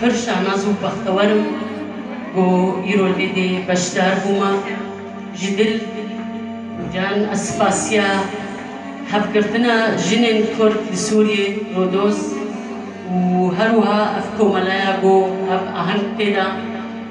Pir şanaz û bextewer im ku îro li vê dê beşdar bûme. Ji dil û can ez spasiya hevgirtina jinên Kurd li Sûriyê, Rodos û her wiha ev komelaya ku hev aheng tê de,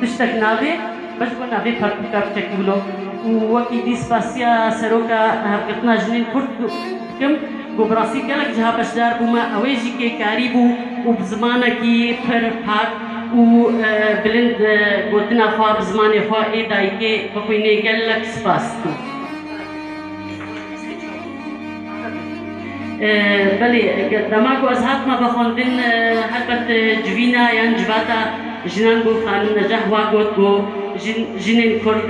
Tiştek nabê, me ji bo navê pertûka biçekî wilo û wekî dî spasiya Seroka Hevgirtina Jinên Kurd dikim ku bi rastî gelek jiha beşdar bûme, ew ê jî kêkarî bû û bi zimanekî pir pak û bilind gotina xwe bi zimanê xwe ê dayikê bixwînê gelek spas dikim. Belê, dema ku ez hatime vexwendin helbet civîna yan civata jinan bo Xanim Necah wa got ku jin jinên kurd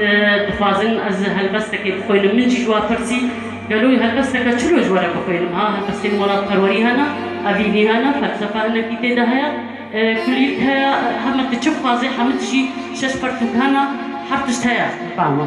dixwazin ez helbestekê bixwînim. Min jî ji wan pirsî gelo helbesteke çilo ji we re bixwînim. Ha helbestên welatperwerî hene, evînî hene, felsefe hinekî tê de heye, kulîlk heye, heme tu çi bixwazê hemû tijî şeş pertûk hene, her tişt heye. Fehma.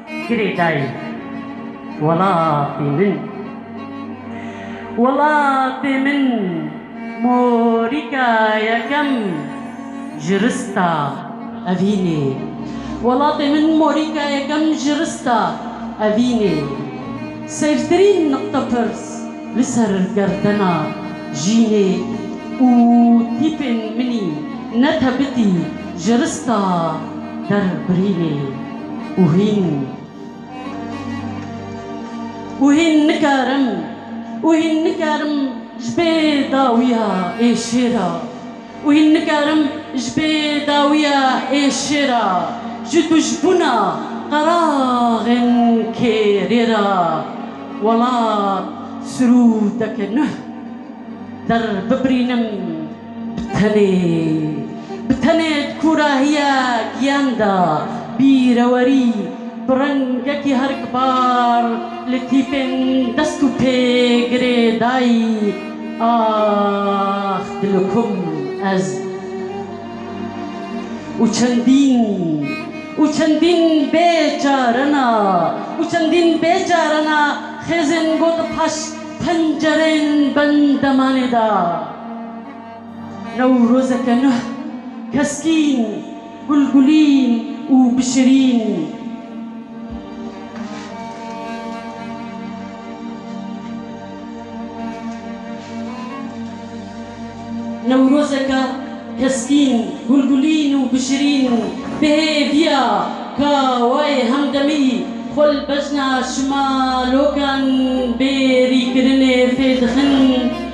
Girê dayî welatê min. Welatê min morîka yekem ji rista evînê. Welatê min morîka yekem ji rista evînê. Sêvtirîn niqte pirs li ser gerdena jînê û tîpên minî ne tebitî ji rista derbirînê. Û hîn, û hîn nikarim, û hîn nikarim ji bê dawiya êşêra, û hîn nikarim ji bê dawiya êşêra ji dujbûna qeraxên kêrê ra welat sirûdeke nuh derbibirînim. Tenê bi tenê di kûrahiya giyan de bîrewerî bi rengekî herikbar li tîpên dest û pê girê dayî, Ax dilo kum ez û çendîn û çendîn bêçarena û çendîn bêçarena xêzên got paş pencerên bendemanê de. Newrozeke nuh, keskîn, gulgulîn û bişirîn. Newrozeke keskîn, gulgulîn û bişirîn bi hê viya ka wayê hemdemî xwe li bejna şimalokan bêrîkirinê fê dixin.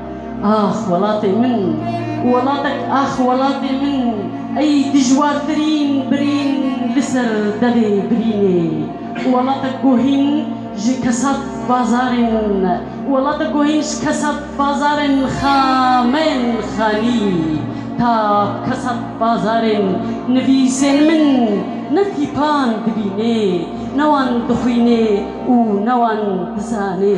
Ax welatê min, welatek ax welatê min ey dijwartirîn birîn li ser devê birînê welatek guhîn ji kesat bazarên welatek guhîn ji kesat bazarên xameyên xanî ta kesat bazarên nivîsên min ne tîpan dibînê ne wan dixwînê û ne wan dizanê.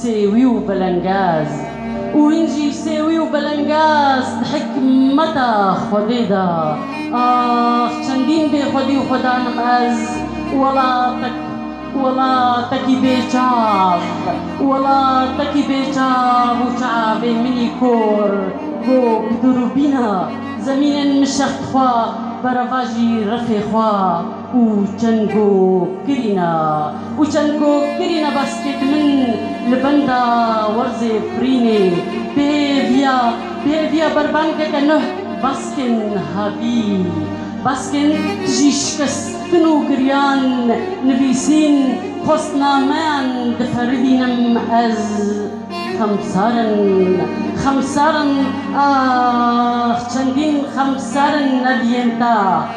Sêwî û belengaz û hîn jî sêwî û belengaz di hikmeta Xwedê de. Ax çendîn bêxwedî û xwedan im ez û welatek û welatekî bê çav û welatekî bê çav û çavê minî kor ko bi durûbîna zemînên min şex dixwa berevajî refê xwe. Û çend gog kirîna û çend gog kirîna baskêt min li benda werzê firînê bi hêviya bi hêviya berbangeke nuh baskên havî baskên tijî şikestin û giriyan nivîsîn xwestnameyan diperivînim ez xemsar in xemsar in ax çendîn xemsar in ev yên ta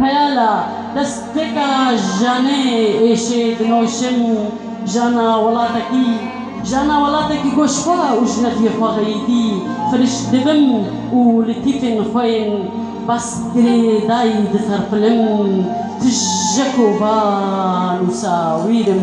Xeyala destpêka janê êşê dinoşim jana welatekî, jana welatekî goşxwe û ji nefyê xwe xeyîdî firişt dibim û li tîfên xwe yên bas girêdayî diserpinim, tije ku va nûsa wîr im.